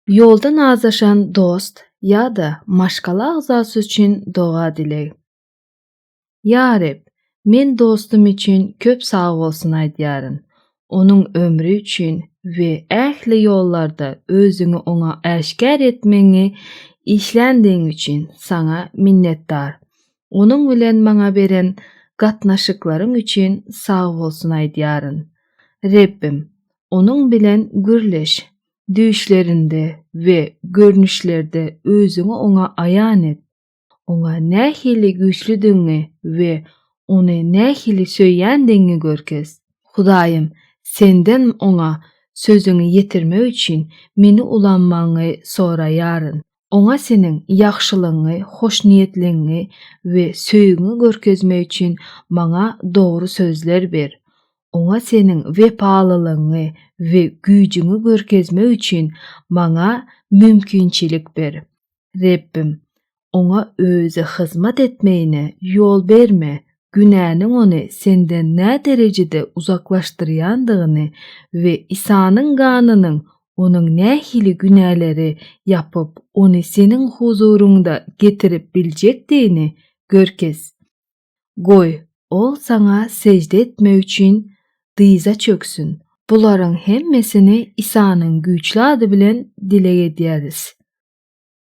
Ýolda nazlaşan dost ýa-da maşgala agzasy üçin doga-dileg. Ýa Reb, men dostum üçin köp sag bolsun aýdýaryn. Onuň ömri üçin we ähli ýollarda Özüňi oňa äşgär etmegiňi işländigiň üçin Saňa minnetdar. Onuň bilen maňa beren gatnaşyklaryň üçin sag bolsun aýdýaryn. Rebbim, Onuň bilen gürleş. Düýşlerinde we görnüşlerde özüňi oňa aýan et. Oňa nähili güýçlüdigiňi we ony nähili söýýändigiňi görkez. Hudaýym, Senden oňa sözüňi ýetirmek üçin meni ulanmagyňy soraýaryn. Oňa seniň ýagşylygyňy, hoşniýetligiňi we söýgiňi görkezmek üçin maňa dogry sözler ber. Oňa seniň wepalylygyňy we güýjüňi görkezmek üçin maňa mümkinçilik ber. Rebbim, oňa özi hyzmat etmegine ýol berme günäniň ony senden näderejede uzaklaşdyrýandygyny we Isanyň ganynyň onuň nähili günäleri ýapyp, ony seniň huzuryňda getirip biljekdigini görkez. Goý, ol saňa sežde etmek üçin dyza çöksün. Bularyň hemmesini Isanyň güýçli ady bilen dileg edýäris.